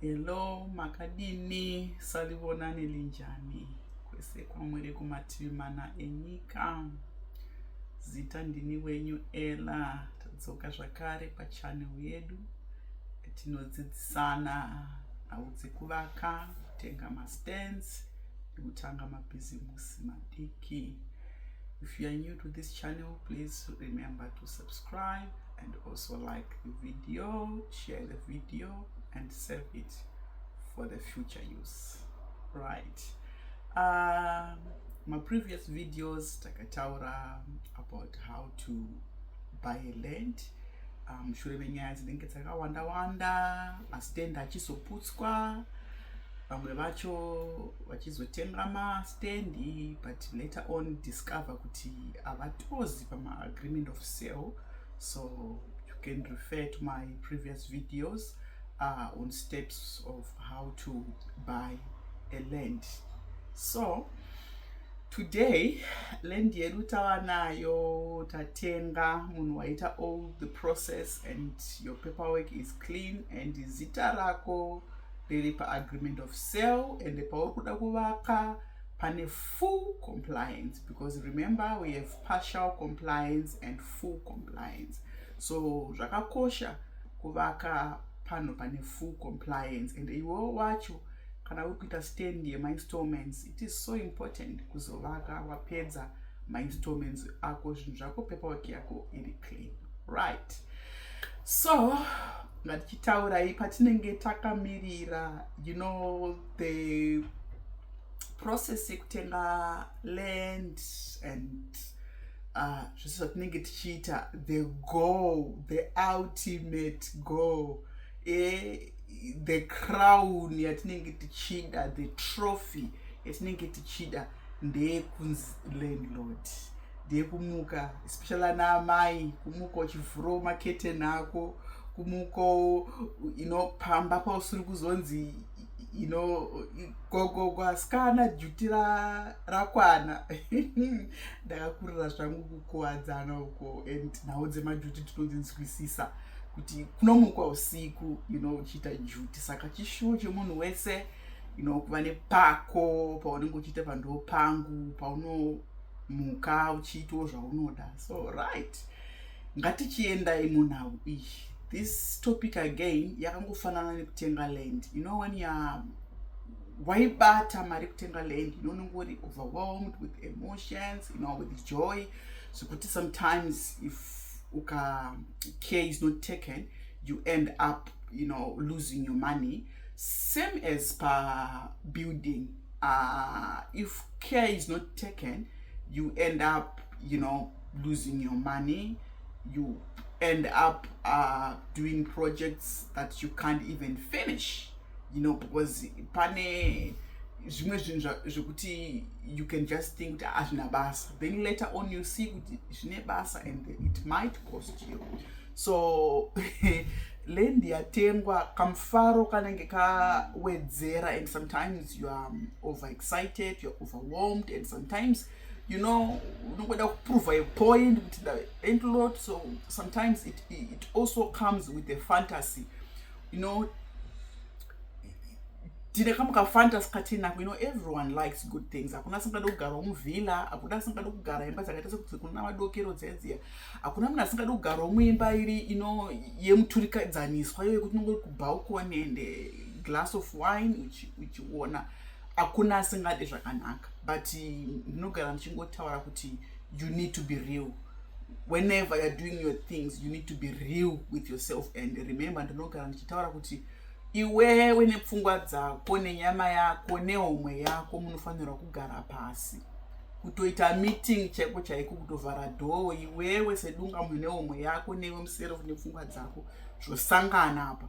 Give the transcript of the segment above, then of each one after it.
Hello, makadini salivonani linjani kwese kwamwere kumativi mana enyika zita ndini wenyu ela tadzoka zvakare pachanel yedu tinodzidzisana nhau dzekuvaka kutenga mastands nekutanga mabhizimusi madiki if you are new to this channel please remember to subscribe and also like the video share the video and save it for the future use right um, my previous videos takataura about how to buy a land mushure um, menyaya dzinenge dzakawanda wanda masitenda achizoputswa vamwe vacho vachizotenga mastendi but later on discover kuti havatozi pamaagreement of sale so you can refer to my previous videos uh, on steps of how to buy a land so today land yedu tava nayo tatenga munhu waita all the process and your paperwork is clean and zita rako riri paagreement of sale and pauri kuda kuvaka pane full compliance because remember we have partial compliance and full compliance so zvakakosha kuvaka panhu pane full compliance and iwewo wacho kana uri kuita stand yemainstallments it is so important kuzovaka wapedza mainstallments ako zvinhu zvako paperwork yako iri clean right so ngatichitaurai patinenge takamirira you know the process yekutenga land and uh, zvese zvatinenge tichiita the goal the ultimate goal eh, the crown yatinenge tichida the trophy yatinenge tichida ndeyekunzi landlord ndeyekumuka especially ana amai kumuka uchivhurawo maketeni ako kumukawo inopamba pausiri kuzonzi you know gogo kwasikana juti rakwana ndakakurira zvangu kukuwadzana uko and nhau dzemajuti tinodzinzwisisa kuti kunomukwa usiku you know uchiita juti saka chishuwo chemunhu wese you know kuva nepako paunenge uchiita pandiwo pangu paunomuka uchiitawo zvaunoda so right ngatichiendai munhau iyi this topic again yakangofanana nekutenga land you know when you're waibata mari kutenga land you know unenge uri overwhelmed with emotions you know with joy zvekuti sometimes if uka care is not taken you end up you know losing your money same as pa building uh, if care is not taken you end up you know losing your money you end up uh, doing projects that you can't even finish you know because pane zvimwe zvinhu zvekuti you can just think kuti hazvina ah, basa then later on you see kuti zvine basa and it might cost you so land yatengwa kamufaro kanenge kawedzera and sometimes you are um, overexcited youare overwhelmed and sometimes you know unongoda kuprova a point kuti and lot so sometimes it, it also comes with a fantasy you know tine kamwe kafantasy katinako you know everyone likes good things hakuna asingada kugara muvhila hakuna asingada kugara imba dzakaita sekuti kuna madokero dzedziya hakuna munhu asingada kugara muimba iri ino yemuturikadzaniswa iyo yekuti unongori kubhaukoni and glass of wine uchiona uchi hakuna asingade zvakanaka but ndinogara ndichingotaura kuti you need to be real whenever youare doing your things you need to be real with yourself and remember ndinogara ndichitaura kuti iwewe nepfungwa dzako nenyama yako nehomwe yako munofanirwa kugara pasi kutoita meeting chaiko chaiko kutovhara dhoo iwewe sedunga munhu nehomwe yako newe muserof nepfungwa dzako zvosangana apa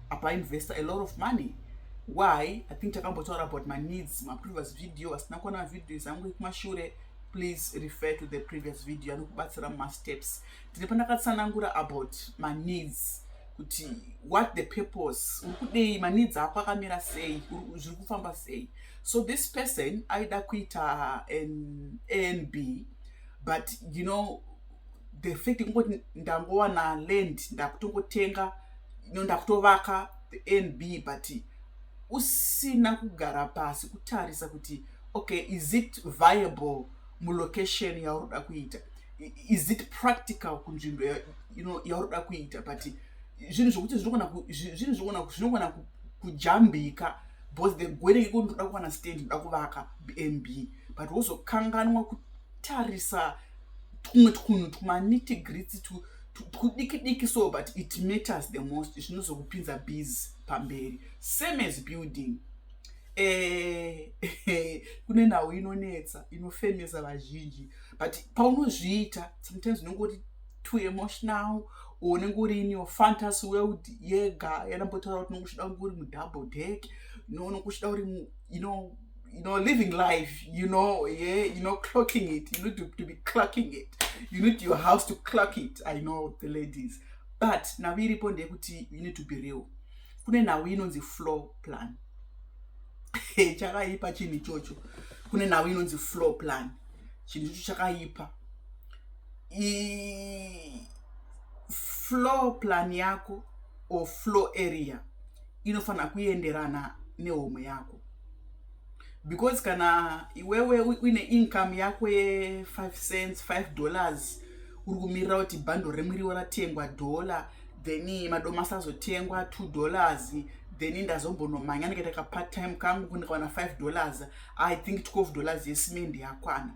apa investor a lot of money why i think takambotaura about my needs maprevious video vasina kuona video zangu ekumashure please refer to the previous video anokubatsira mumasteps ndine pandakatsanangura about my needs kuti what the purpose uri kudei maneeds ako akamira sei zviri kufamba sei so this person aida kuita anb but you know the fact kungoti ndangowana land ndakutongotenga no ndakutovaka the nb but usina kugara pasi kutarisa kuti okay is it viable mulocation yauroda kuita is it practical kunzvimbo you know, yauroda kuita but zvinhu zvokuti zvinhu zvinogona kujambika because the gwere iko ndoda kuwana stand ndoda kuvaka bnb but wozokanganwa tarisa tumwe twunhu twaniti gritsi twudiki diki so but it matters the most zvinozokupinza bus pamberi same as building eh, kune nhau inonetsa inofemesa vazhinji but paunozviita sometimes unenge uri too emotional unenge uri in your fantasy world yega yanambotaura kuti unenge uchida kunge uri mudouble deck nounenge uchida uri you know you know, living life, you know, yeah, you know, clocking it. You need to, to be clocking it. You need your house to clock it. I know the ladies. But now we repond kuti you need to be real. Kune now we know the floor plan. chakaipa chinhu ichocho kune nhau inonzi floor plan chinhu ichocho chakaipa floor plan yako or floor area inofanira kuenderana nehomwe yako because kana iwewe uine income yako ye5 cents 5 dollars uri kumirira kuti bhando remuriwo ratengwa dollar then madomasi azotengwa two dollars then ndazombonomhanya ndikaita kapart time kangu kundikawana five dollars i think twelve dollars yesimendi yakwana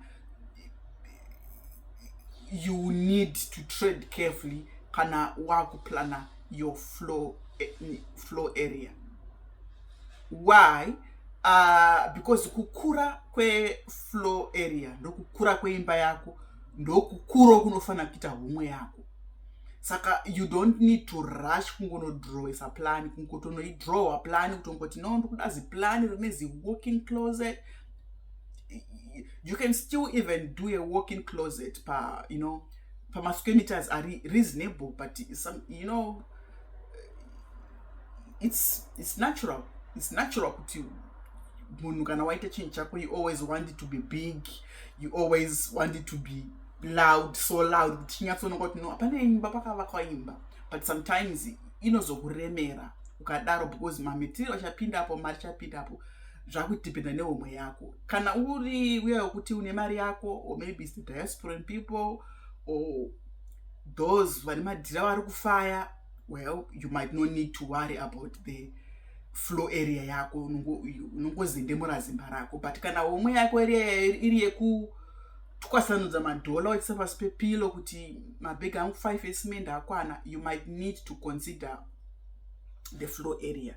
you need to trade carefully kana wakuplana your flow, eh, flow area why uh, because kukura kweflow area ndokukura kweimba yako ndokukuro kunofanira kuita homwe yako saka you don't need to rush kungonodrawisa plani kungotonoidrowa plani kuti ungoti no ndikuda ziplani rine ziwalking closet you can still even do a walking closet pa you know pamasquare meters ari reasonable but some, you know it's, it's natural it's natural kuti munhu kana waita chinhu chako you always want it to be big you always want it to be loud so loud kuti chinyatsoonekwa kuti no hapana imba pakavakwa imba but sometimes inozokuremera ukadaro because mametiriro achapinda apo mari chapinda apo zvakudependa nehomwe yako kana uri uya wekuti une mari yako or maybe is the diasporan people or those vane madhira vari kufaya well you might not need to worry about the flow area yako unongozendemura zimba rako but kana homwe yako iri yekutwasanudza madhola wachisa pasi pepilo kuti mabhegi angu five esimende akwana you might need to consider the flow area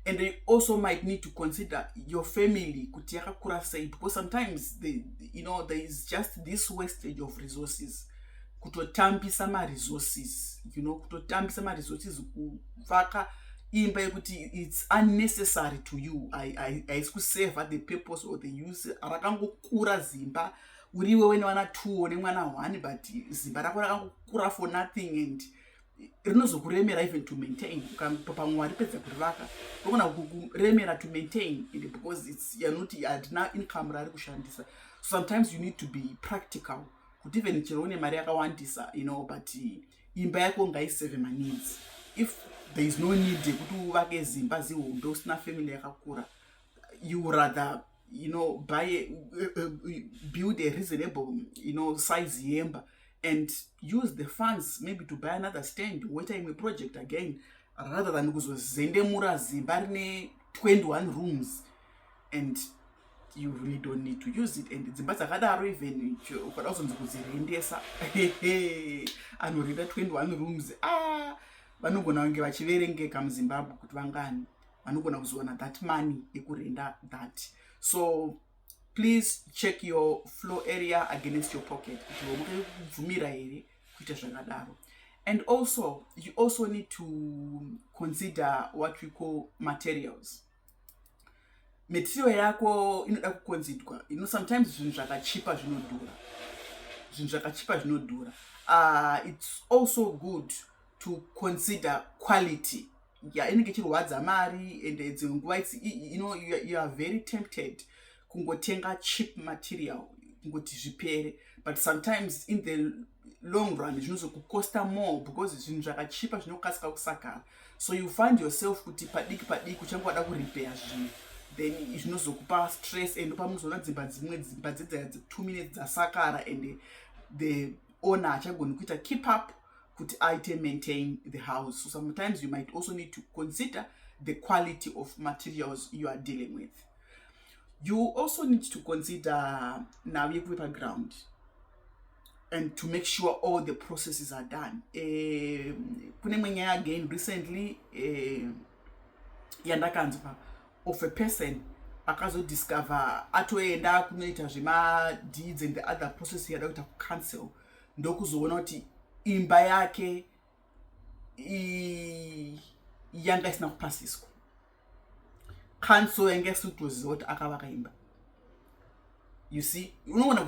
and they also might need to consider your family kuti yakakura sei because sometimes they, you know there is just this wastage of resources kutotambisa maresources you know kutotambisa maresources kuvaka imba yekuti its unnecessary to you haisi kuseva the purpose or the use rakangokura zimba uriwe wene vana two nemwana one but zimba rako rakangokura for nothing and rinozokuremera even to maintain ukatopa mwari pedza kurivaka rogona kukuremera to maintain and because its you're not hatina income raari kushandisa sometimes you need to be practical kuti even chero une mari yakawandisa you know but imba yako ngaiseve maneeds if there is no need yekuti uvake zimba zihombe usina family yakakura you rather you know buy a, uh, uh, build a reasonable you know size yemba and use the funds maybe to buy another stand woita imwe project again rather than kuzozendemura zimba rine 21 rooms and you really don't need to use it and dzimba dzakadaro even ukada kuzonzi kudzirendesa anorenda 21 rooms ah, vanogona kunge vachiverengeka muzimbabwe kuti vangani vanogona kuzowana that money ekurenda that so please check your flow area against your pocket kuti wamukati kubvumira here kuita zvakadaro and also you also need to consider what we call materials material yako inoda kukonzidwa you know sometimes zvinhu zvakachipa zvinodhura zvinhu zvakachipa zvinodhura uh, it's also good to consider quality ya inenge ichirwadza mari and dzimwe nguva its you know you are very tempted kungotenga cheap material kungoti zvipere but sometimes in the long run zvinozokukosta more because zvinhu zvakachipa zvinokasika kusakara so you find yourself kuti padiki padiki uchange wada kuripeya zvinhu then zvinozokupa stress and pamunozoona dzimba dzimwe dzimba dzedzaya two minutes dzasakara and the owner achagoni kuita keep up kuti aite maintain the house so sometimes you might also need to consider the quality of materials you are dealing with you also need to consider now yekuve paground and to make sure all the processes are done eh, kune imwe nyaya again recently eh, yandakanzwa of a person akazodiscover atoenda kunoita zvemadeeds and the other process yada kuita kucancel ndokuzoona kuti imba yake yanga isina kupasiswa kanso yanga isiri kutoziva kuti akavaka imba you see unogona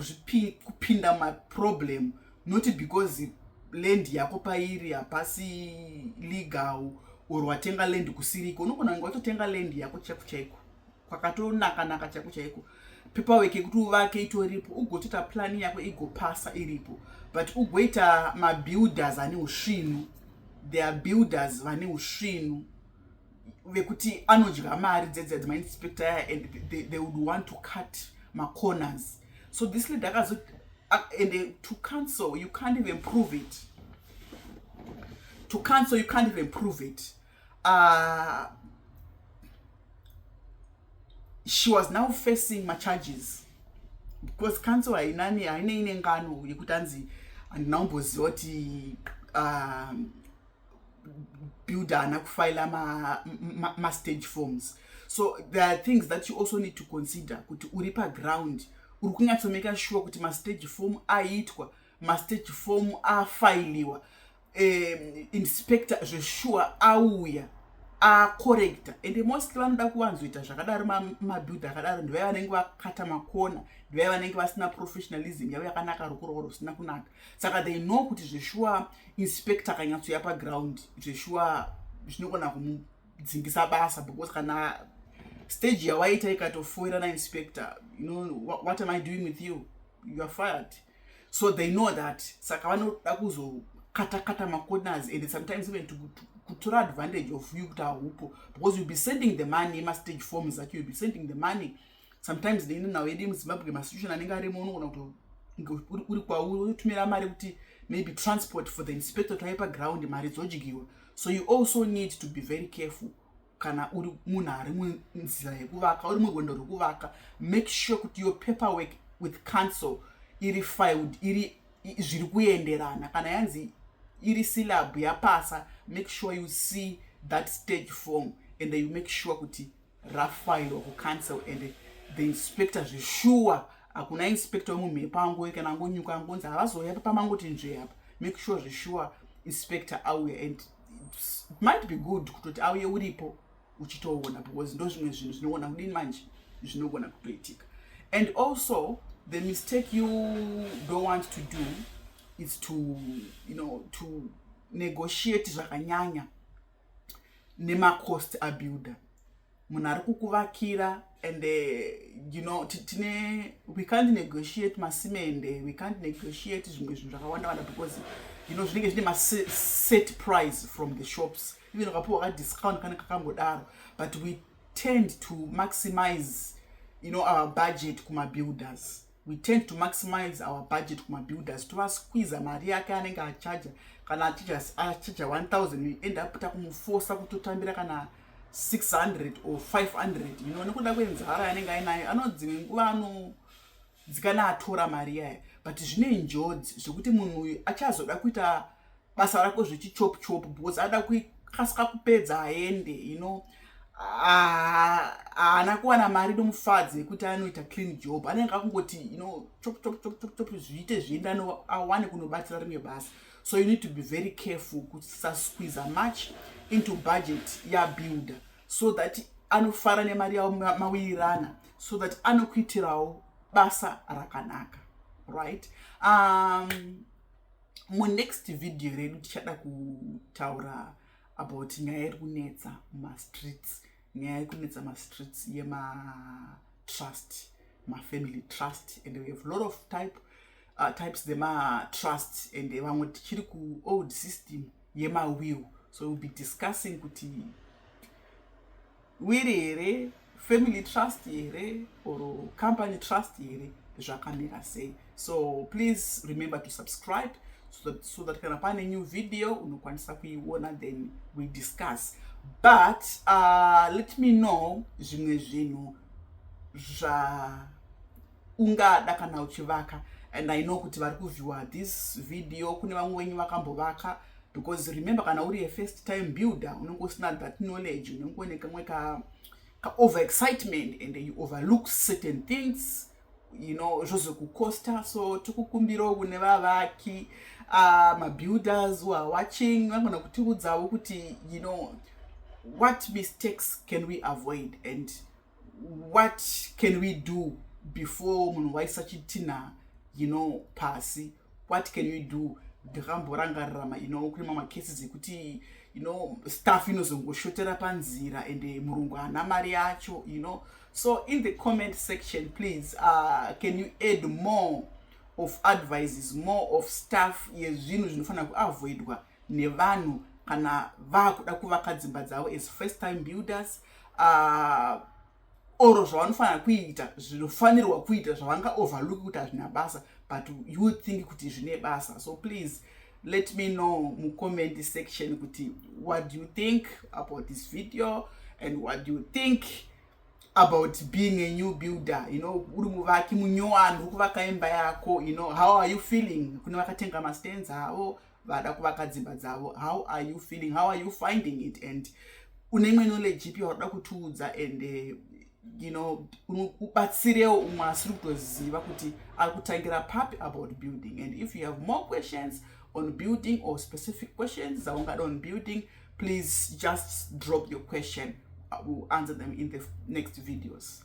kupinda maproblem not because land yako pairi hapasi legal or watenga land kusiriko unogona kunge watotenga land yako chaiko chaiko kwakatonaka naka chaiko chaiko paperwork yekuti uvake itoripo ugotoita plani yako igopasa iripo but ugoita mabuilders ane usvinu there are builders vane usvinu vekuti anodya mari dzedzi adzima inspector aya and they, they would want to cut macorners so this lady akazo and uh, to cancel you can't even prove it to cancel you can't even prove it uh, she was now facing macharges because council hainani haine ine ngano yekuti anzi handina kumboziva kuti uh, builder haana kufaila mastage ma, ma forms so there are things that you also need to consider kuti uri paground uri kunyatsomeka sure kuti mastage form aiitwa mastage form afailiwa um, inspector zveshuwa auya akorekta ende mostly vanoda kuvanzoita zvakadaro madhudha akadaro ndivai vanenge vakata makona ndivai vanenge vasina professionalism yavo yakanaka rukuroro rusina kunaka saka they know kuti zveshuwa inspector akanyatsoya paground zveshuwa zvinogona kumudzingisa basa because kana stage yawaita ikatofoirana inspector you know what am i doing with you youare fired so they know that saka vanoda kuzokatakata macorners and sometimes even to, to kutora advantage of you kuti haupo because youll be sending the money emastage forms acho youll be sending the money sometimes neine nhau yedu yemuzimbabwe masitution anenge arimo unogona kuti uri kwauri wotumira mari kuti maybe transport for the inspector taipa ground mari dzodyirwa so you also need to be very careful kana uri munhu ari munzira yekuvaka uri murwendo rwekuvaka make sure kuti your paper work with council iri filed iri zviri kuenderana kana yanzi iri syllab yapasa make sure you see that stage form and you make sure kuti rafairwa kucouncil and the inspector zveshuwa hakuna inspector wemumhepa angoe kana angonyuka angonzi havazouya pamangoti nzvee apa make sure zveshuwa inspector auya and might be good kutoti auye uripo uchitoona because ndo zvimwe zvinhu zvinogona kudini manje zvinogona kutoitika and also the mistake you don't want to do is to you know to negotiate zvakanyanya nemacost abuilder munhu ari kukuvakira and uh, you know tine we can't negotiate masimende we can't negotiate zvimwe zvinhu zvakawanda wanda because you know zvinenge zvine maset price from the shops even ukapiwa kadiscount kanenge kakangodaro but we tend to maximize you know our budget kumabuilders we tend to maximize our budget kumabuilders tovasquiza mari yake anenge achaja kana achaja 1000 end up takumufosa kutotambira kana 600 or 500 you know nekuda kwenzara yanenge ainayo anodzi nguva ano dzikana atora mari yaye but zvine njodzi zvekuti munhu uyu achazoda kuita basa rako zvechichop chop because ada kuikasika kupedza aende you know haana kuwana mari nomufadzi yekuti anoita clean job anenge akungoti you know chop chop chop chop chop zviite zvienda awane kunobatsira rimwe basa so you need to be very careful kusasquiza much into budget yabuilder so that anofara nemari yavo mawirirana so that anokuitirawo basa rakanaka right um, munext video redu tichada kutaura about nyaya yeri kunetsa mumastreets nyaya yeri kunetsa mastreets yematrust mafamily trust and we have lot of type uh, types dzematrust and vamwe tichiri kuold system yemawill so we'll be discussing kuti wiri here family trust here or company trust here zvakamira sei so please remember to subscribe so that, so that kana pane new video unokwanisa kuiona then we discuss but uh, let me know zvimwe zvinhu zva ungada kana uchivaka and i know kuti vari kuviewer this video kune vamwe wenyu vakambovaka because remember kana uri a first time builder unenge usina that knowledge unenge une kamwe ka over excitement and you overlook certain things you know zvozokucosta so tikukumbirawo kune vavaki uh, mabuilders who are watching vangona kutiudzavo kuti you know what mistakes can we avoid and what can we do before munhu waisa chitinha you know pasi what can we do ndakamborangarirama you know kune mamwe cases ekuti you know staff inozongoshotera panzira and eh, murungu haana mari yacho you know so in the comment section please uh, can you add more of advices more of staff yezvinhu zvinofanira kuavoidwa nevanhu kana vakuda kuvaka dzimba dzavo as first time builders uh, or zvavanofanira kuita zvinofanirwa kuita zvavanga overlook kuti hazvina basa but you think kuti zvine basa so please let me know mucomment section kuti what do you think about this video and what do you think about being a new builder you know uri muvaki munyowani uri kuvaka imba yako you know how are you feeling kune vakatenga mastands avo vada kuvaka dzimba dzavo how are you feeling how are you finding it and une imwe knowledge ipi wakuda kutiudza and eh, you know ubatsirewo umwe asiri kutoziva kuti ari kutangira papi about building and if you have more questions on building or specific questions dzaungada on building please just drop your question I will answer them in the next videos